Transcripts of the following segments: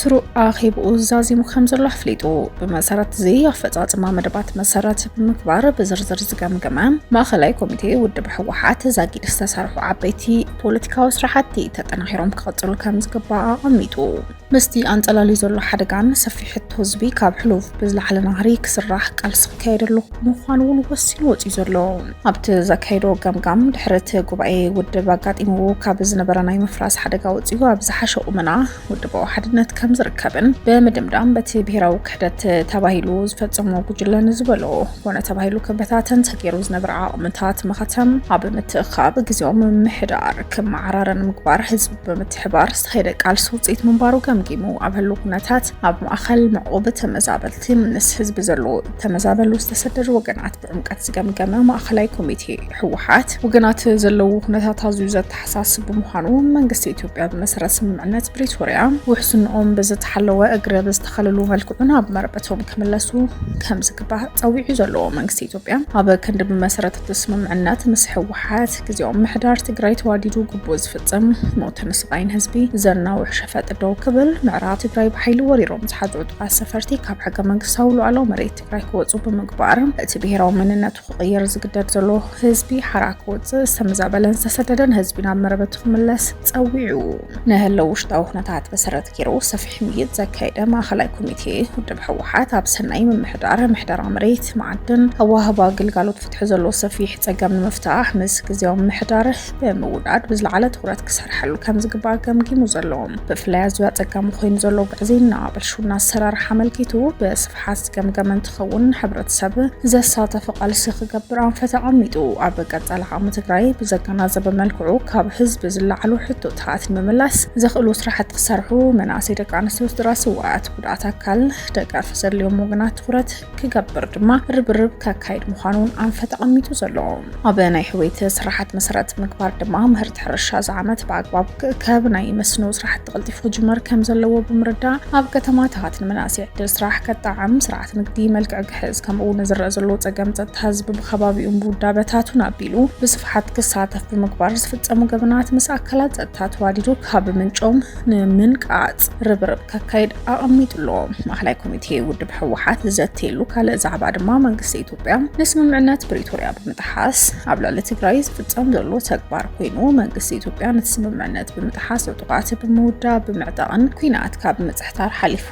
ስሩዕ ኣኼብኡ ዛዚሙ ከም ዘሎ ኣፍሊጡ። ብመሰረት እዚ ኣፈጻጽማ መደባት መሰረት ብምግባር ብዝርዝር ዝገምገመ ማእኸላይ ኮሚቴ ውድብ ህወሓት ዛጊድ ዝተሰርሑ ዓበይቲ ፖለቲካዊ ስራሕቲ ተጠናኺሮም ክቕፅሉ ከም ዝግባእ ኣቐሚጡ። ምስቲ ኣንፀላልዩ ዘሎ ሓደጋን ሰፊሕ ሕቶ ህዝቢ ካብ ሕሉፍ ብዝለዓለ ናህሪ ክስራሕ ቃልሲ ክካየደሉ ምዃኑ እውን ወሲኑ ወፂኡ ዘሎ ኣብቲ ዘካየዶ ገምጋም ድሕሪ እቲ ጉባኤ ውድብ ኣጋጢምዎ ካብ ዝነበረ ናይ ምፍራስ ሓደጋ ወፂኡ ኣብ ዝሓሸ ቁመና ውድባዊ ሓድነት ከም ዝርከብን ብምድምዳም በቲ ብሄራዊ ክሕደት ተባሂሉ ዝፈፀሞ ጉጅለ ንዝበሎ ኮነ ተባሂሉ ክበታተን ተገይሩ ዝነበረ ዓቕምታት መኸተም ኣብ ምትእኻብ ግዜያዊ ምምሕዳር ክመዓራረን ምግባር ህዝቢ ብምትሕባር ዝተኸየደ ቃልሲ ውፅኢት ምንባሩ ገምጊሙ ኣብ ህሉ ኩነታት ኣብ ማእኸል ምዕቑብ ተመዛበልቲ ምስ ህዝቢ ዘለዎ ተመዛበሉ ዝተሰደዱ ወገናት ጭንቀት ዝገምገመ ማእኸላይ ኮሚቴ ህወሓት ወገናት ዘለዉ ኩነታት ኣዝዩ ዘተሓሳስብ ብምዃኑ መንግስቲ ኢትዮጵያ ብመሰረት ስምምዕነት ፕሪቶርያ ውሕስንኦም ብዝተሓለወ እግረ ብዝተኸለሉ መልክዑ ናብ መረበቶም ክምለሱ ከም ዝግባእ ፀዊዑ ዘለዎ መንግስቲ ኢትዮጵያ ኣብ ክንዲ ብመሰረት እቲ ስምምዕነት ምስ ህወሓት ግዜያዊ ምሕዳር ትግራይ ተዋዲዱ ግቡእ ዝፍፅም ሞትን ስቓይን ህዝቢ ዘናውሕ ሸፈጥ ደው ክብል ምዕራ ትግራይ ብሓይሊ ወሪሮም ዝሓዘ ዕጡቓት ሰፈርቲ ካብ ሕገ መንግስታዊ ሉዓላዊ መሬት ትግራይ ክወፁ ብምግባር እቲ ብሄራዊ መንነቱ ክቕየር ዝግደድ ዘሎ ህዝቢ ሓራ ክወፅእ ዝተመዛበለን ዝተሰደደን ህዝቢ ናብ መረበቱ ክምለስ ፀዊዑ ንህለው ውሽጣዊ ኩነታት መሰረት ገይሩ ሰፊሕ ምይጥ ዘካየደ ማእኸላይ ኮሚቴ ውድብ ህወሓት ኣብ ሰናይ ምምሕዳር ምሕደራ መሬት መዓድን ኣዋህባ ግልጋሎት ፍትሒ ዘሎ ሰፊሕ ፀገም ንምፍታሕ ምስ ግዜያዊ ምሕዳር ብምውዳድ ብዝለዓለ ትኹረት ክሰርሐሉ ከም ዝግባእ ገምጊሙ ዘሎ ብፍላይ ኣዝዩ ኣጸጋሚ ኮይኑ ዘሎ ግዕዝይና ብልሹና ኣሰራርሓ ኣመልኪቱ ብስፍሓት ዝገምገመ እንትኸውን ሕብረተሰብ ዘሳተፈ ቃልሲ ክገብር ኣንፈት ኣቐሚጡ ኣብ ቀጻሊ ዓቕሚ ትግራይ ብዘገናዘበ መልክዑ ካብ ህዝቢ ዝለዓሉ ሕቶታት ንምምላስ ዘኽእሉ ስራሕቲ ክሰርሑ መናእሰይ ደቂ ኣንስትዮ ስድራ ስዋኣት ጉድኣት ኣካል ደገፍ ዘድልዮም ወገናት ትኹረት ክገብር ድማ ርብርብ ከካይድ ምዃኑ እውን ኣንፈት ተቐሚጡ ዘሎ ኣብ ናይ ሕወይቲ ስራሓት መሰረት ምግባር ድማ ምህርቲ ሕርሻ እዚ ዓመት ብኣግባብ ክእከብ ናይ መስኖ ስራሕቲ ቀልጢፉ ክጅመር ከም ዘለዎ ብምርዳእ ኣብ ከተማታት ንመናእሰይ ዕድል ስራሕ ከጣዕም ስርዓት ንግዲ መልክዕ ክሕዝ ከምኡ እውን ዝረአ ዘሎ ፀገም ፀጥታ ህዝቢ ብከባቢኡን ብውዳበታቱን ኣቢሉ ብስፍሓት ክሳተፍ ብምግባር ዝፍፀሙ ገበናት ምስ ኣካላት ፀጥታ ተዋዲዱ ካብ ምንጮም ንምንቃፅ ርብርብ ከካይድ ኣቐሚጡ ኣሎ። ማእኸላይ ኮሚቴ ውድብ ህወሓት ዘትየሉ ካልእ ዛዕባ ድማ መንግስቲ ኢትዮጵያ ንስምምዕነት ፕሪቶርያ ብምጥሓስ ኣብ ልዕሊ ትግራይ ዝፍፀም ዘሎ ተግባር ኮይኑ መንግስቲ ኢትዮጵያ ነቲ ስምምዕነት ብምጥሓስ ዕጡቓት ብምውዳብ ብምዕጣቕን ኩናት ካብ ምፅሕታር ሓሊፉ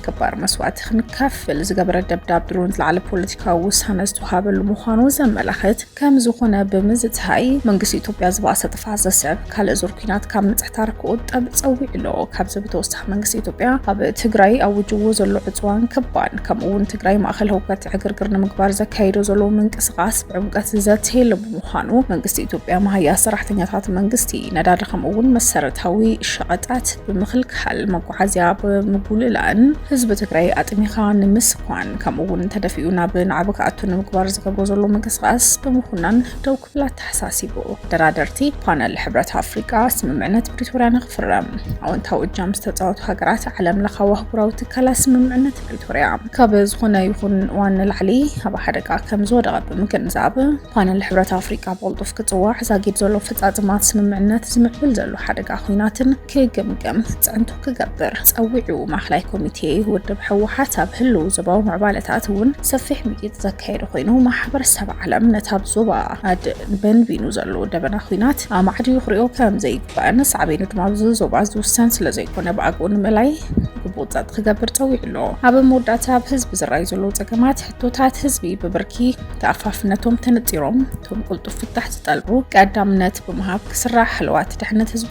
ከባድ መስዋእቲ ክንከፍል ዝገበረ ደብዳብ ድሮን ዝለዓለ ፖለቲካዊ ውሳነ ዝተዋሃበሉ ምዃኑ ዘመላኽት ከም ዝኾነ ብምዝታይ መንግስቲ ኢትዮጵያ ዝባእሰ ጥፍኣት ዘስዕብ ካልእ ዙር ኩናት ካብ ምጽሕታር ክቑጠብ ጸዊዑ ኣሎ። ካብዚ ብተወሳኺ መንግስቲ ኢትዮጵያ ኣብ ትግራይ ኣዊጅዎ ዘሎ ዕጽዋን ክባን ከምኡ እውን ትግራይ ማእኸል ህውከት ዕግርግር ንምግባር ዘካይዶ ዘሎ ምንቅስቓስ ብዕምቀት ዝዘተየሉ ብምዃኑ መንግስቲ ኢትዮጵያ መሃያ ሰራሕተኛታት መንግስቲ ነዳዲ ከምኡ እውን መሰረታዊ ሸቐጣት ብምኽልካል መዓዝያ ብምጉልላእን ህዝቢ ትግራይ ኣጥሚኻ ንምስኳን ከምኡ እውን ተደፊኡ ናብ ናዕቢ ክኣቱ ንምግባር ዝገብሮ ዘሎ ምንቅስቓስ ብምኹናን ደው ክብል ኣተሓሳሲቡ። ደራደርቲ ፓነል ሕብረት ኣፍሪቃ ስምምዕነት ፕሪቶርያ ንክፍረም ኣወንታዊ እጃም ዝተፃወቱ ሃገራት ዓለም ለኻዊ ኣህጉራዊ ትካላት ስምምዕነት ፕሪቶርያ ካብ ዝኾነ ይኹን እዋን ንላዕሊ ኣብ ሓደጋ ከም ዝወደቐ ብምግንዛብ ፓነል ሕብረት ኣፍሪቃ ብቕልጡፍ ክፅዋዕ ዛጊድ ዘሎ ኣፈፃፅማ ስምምዕነት ዝምዕብል ዘሎ ሓደጋ ኩናትን ክግምገም ፅዕንቶ ክገብር ፀዊዑ። ማእኸላይ ኮሚቴ ውድብ ህወሓት ኣብ ህልው ዞባዊ ምዕባለታት እውን ሰፊሕ ምይይጥ ዘካየደ ኮይኑ ማሕበረሰብ ዓለም ነቲ ኣብ ዞባ ኣድ በንቢኑ ዘሎ ደበና ኩናት ኣማዕድዩ ክሪኦ ከም ዘይግባእን ሳዕቤኑ ድማ ኣብዚ ዞባ ዝውሰን ስለ ዘይኮነ ብኣግኡ ንምእላይ ግቡእ ፀጥ ክገብር ፀዊዑ ኣሎ። ኣብ መወዳእታ ኣብ ህዝቢ ዝረኣዩ ዘለዉ ፀገማት ሕቶታት ህዝቢ ብብርኪ ተኣፋፍነቶም ተነፂሮም እቶም ቅልጡፍ ፍታሕ ዝጠልቡ ቀዳምነት ብምሃብ ክስራሕ ህልዋት ድሕነት ህዝቢ